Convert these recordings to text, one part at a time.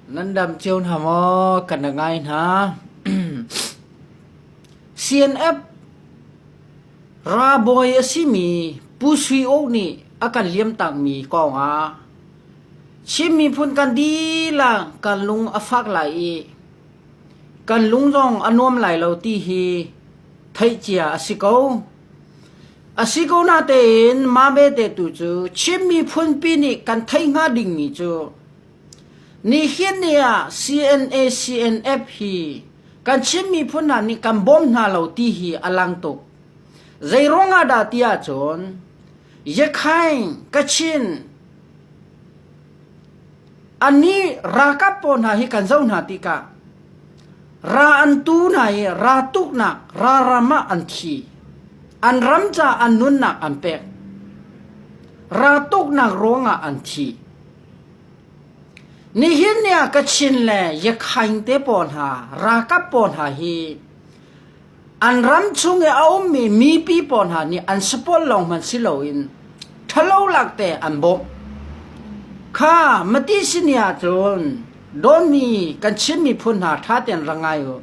Nan dam cio hna maw? Ka na ngai hna. CNF ralbawi a simi Pu Sui Uk nih a kan liamtakmi kongah Chin miphun kan dihlak kan lung a fak lai i kan lung zong a nuam lai lo ti hi theih cia a si ko. A si ko natein mah belte tu cu Chin miphunpi nih kan thei hnga dingmi cu nihin ni ah CNA CNF hi kan Chin miphun hna nih kan bawm hna lo ti hi a lang tuk. Zeiruang ah dah ti ahcun Yakhain, Kachin, a ni ralkap pawl hna hi kan zoh hna tikah Ra an tu hna i ra tuknak ralram ah an thi. An ram caah an nunnak an pek. Ra tuknak ruangah an thi. Nihin ni ah Kachin le Yakhaing te pawl hna, ralkap pawl hna hi An ram chung i a ummi mipi pawl hna nih an sapawl lawng hmanh si loin ṭhalolak te an bawmh. Kha Mati sin i ahcun dawtmi kan Chin miphun hna ṭha tein ra ngai u.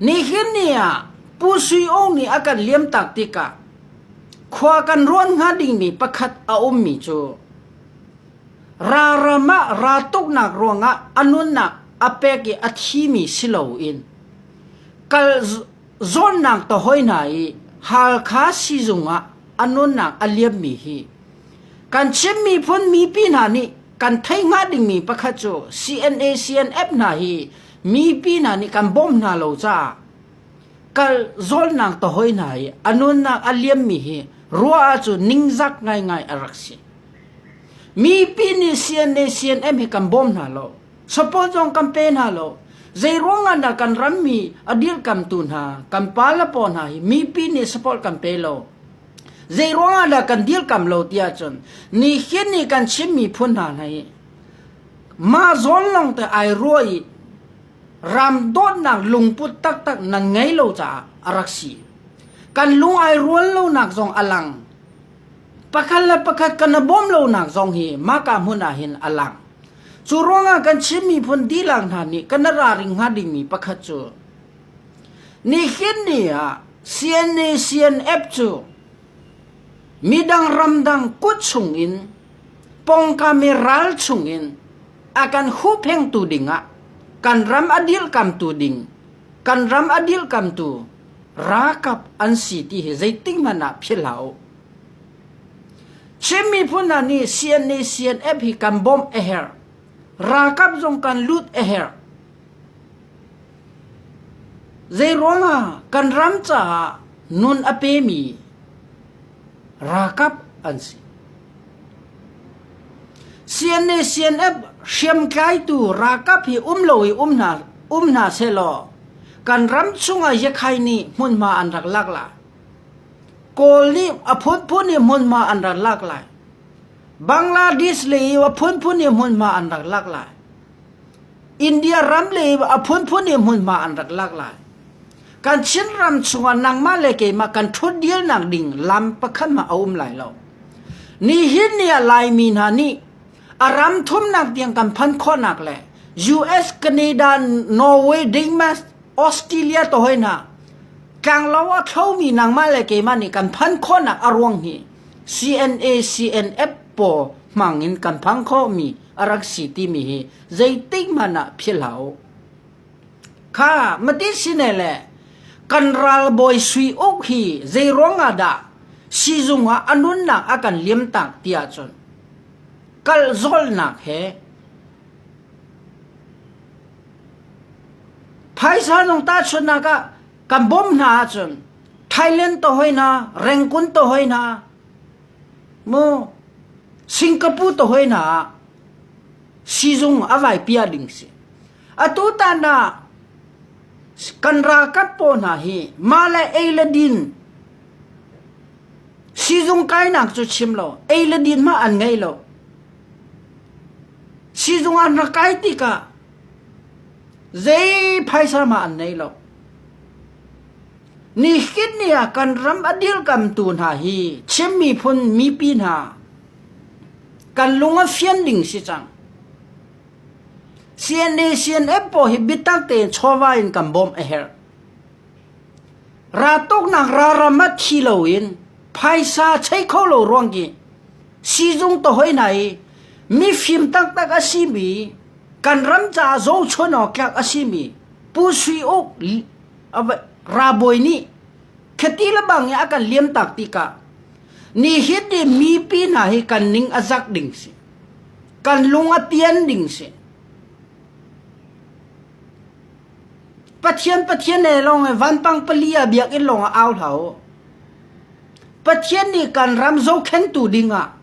Nihin ni ah Pu Sui Aung nih a kan liamtak tikah khua kan ruan hnga dingmi pakhat a ummi cu raram ah raa tuknak ruangah a nunnak a pek i a thimi si loin Kal zawnnak ka hawi hna i Halkha siizung ah a nunnak a liammi hi kan Chin miphun mipi hna nih kan theih hnga dingmi pakhat cu CNA CNF hna hi mipi hna nih kan bawmh hna lo caah kal zawlnak ka hawi hna i a nunnak a liammi hi ruah ahcun ningzak ngaingai a rak si. Mipi nih CNA CNF hi kan bawm hna lo. Sapawl zong kan pe hna lo. Zeiruangah dah kan rammi a dirkamtu hna, kan pa le pa hna hi mipi nih sapawl kan pe lo. Zeiruangah dah kan dirkam lo tiah cun ni hin ni kan chimmi phun hna hna hi mah zawn lawng te ai ruah i ram dawtnak lungput taktak nan ngei lo caah a rak si. Kan lung ai rual lonak zong a lang. pakhat le pakhat kan i bawm lonak zong hi mahka hmun ah hin a lang. Cu ruangah kan Chin miphun dilang hna nih kan i raring hnga dingmi pakhat cu nihin ni ah CNA CNF cu midang ramdang kut chungin pongkame ral chungin akan huphengtu dingah kan ram adilkamtu ding kan ram adilkamtu ralkap an si ti hi zeitik hmanh ah philhau Chin miphun hna nih CNA CNF hi kan bawmh a herh. Ralkap zong kan lut a herh. Zeiruangah kan ram caah nun a pemi ralkap an si. CNA CNF hriamtlaitu ralkap hi um lo i um hna um hna sehlaw kan ram chungah Yekhai nih hmunhma an rak lak la. Kawl nih a phunphun hi hmunhma an rak lak lai. Bangladesh lei i a phunphun hi hmunhma an rak lak lai. India ram lei i a phunphun hi hmunhma an rak lak lai. Kan Chin ram chungah nangmah le keimah kan ṭhutdirnak ding lam pakhat hmanh a um lai lo. Nihin ni ah Laimi hna nih A ram thumnak tiang kan phanh khawhnak le US, Canada, Norway, Denmark, Australia to hoi na tlanglo a thlomi nangmah le keimah nih kan phan khawnak a ruang hi CNA CNF pawl hmang in kan phang khomi a rak si timi hi zeitik hmanh ah phil hau kha mati sine le kan ralbawi sui uk hi zeiruang ah dah sizung ah anunnak a kan liam tak tiah cun Kalhzolhnak he phaisa zong tahchunhnak ah kan bawmh hna ahcun Thailand to hoi hna, Rengkun to hoi hna, mu Singapore to hoi hna ah siizung a vai piah ding si. Atutan ah kan ralkap pawl hna hi mah le ei le din siizung kainak cu chim lo ei le din hmah an ngei lo. Siizung ah na kai tikah zei phaisa mah an nei lo. Nihin ni ah kan ram a dirkamtu hna hi Chin miphun mipi hna kan lung a fian ding si cang. CNA-CNF pawl hi biatak tein chawva in kan bawmh a herh. Raltuknak ralram ah thi loin phaisa chei kho lo ruang khi siizung tohoi hna i mifim taktak a simi, kan ram caah zohchunh awk tlak a simi Pu Sui Uk ralbawi nih khati lebang i a kan liamtak tikah nihin ni mipi hna hi kan ning a zak ding si. Kan lung a pian ding si. Pathian Pathian he lawng i vanpang pali ah biakinn lawng ah au hlah u. Pathian nih kan ram zohkhentu ding ah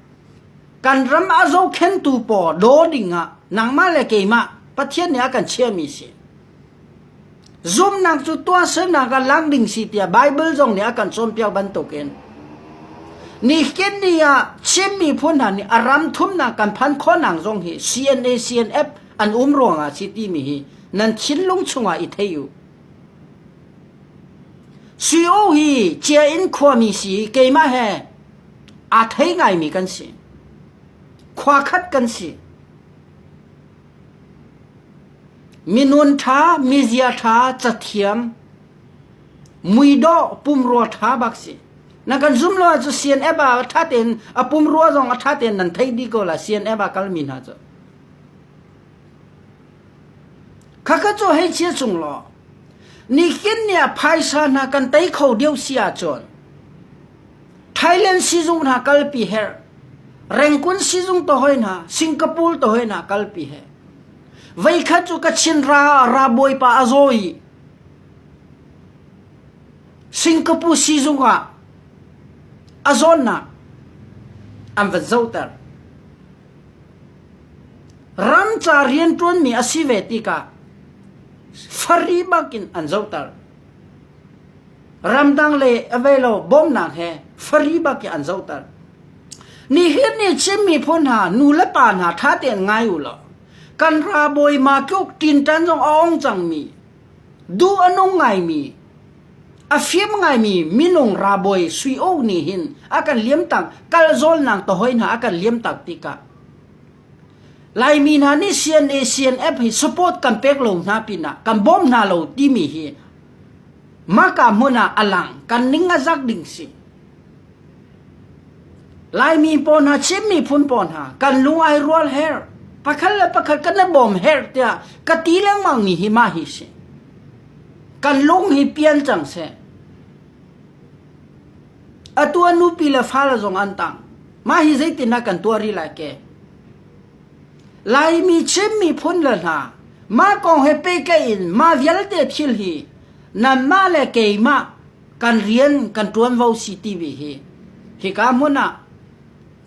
kan ram a zohkhentu pawl daw ding ah nangmah le keimah Pathian nih a kan chiahmi si. Zumhnak cu tuahsernak ah lak ding si tiah Baibal zong nih a kan cawnpiak bantukin nihin ni ah Chin miphun hna nih a ram thumnak kan phan khawhnak zong hi CNA CNF an um ruangah a si timi hi nan thinlung chungah i thei u. Suio hi Chia in khuami si i keimah he aa thei ngaimi kan si. Khua khat kan si. Minun ṭha, mizia ṭha, cathiam, muidawh, pumrua ṭha bak si. Na kan zumh lo ahcun CNF ah a ṭha tein a pumrua zong a ṭha tein nan theih dih ko la CNF ah kalmi hna cu. Khakha cu hei chia chung law nihin ni ah phaisa hna kan tei kho deuh si ahcun Thailand sizung hna kalpi herh, Rengkun sizung tohoi hna, Singapore tohoi hna kalpi he. Veikhat cu ka chin ra ra bawipa a zawi. Singapore sizung ah a zawnnak an va zohter. Ramca rianṭuanmi a si ve tikah fari bakin an zohter. ramdang le avelo bawmnak he fari bak in an zohter nihin ni Chin miphun hna nu le pa hna tha tein ngai u law kan ra bawi ma tluk tin tan zong a ong cang mi du anung ngai mi afim ngai mi minung ra bawi sui o ni hin akan liam tang kal zol nang to hoi na akan liam tak tika lai mi hna ni CNA CNF hi support kan pek lo hna pina kan bom hna lo ti mi hi Mahka hmun ah a lang kan ning a zak ding si. Laimi pawl hna, Chin miphun pawl hna, kan lung ai rual her. Pakhat le pakhat kan i bawm her tiah ka ti lengmang mi hi mah hi si. Kan lung hi pian cang seh. Atu anu pi le fa la zong an tang. Mah hi zeitin na kan tuari lai ke? Laimi Chin miphun le hna, mah kong he pehtlaih in mah vialte thil hi nanmah le keimah kan rian kan ṭuanvo si timi hi hika hmun ah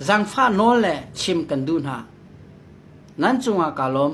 zangfah nawl le chim kan duh hna. Nan cungah kaa lawm.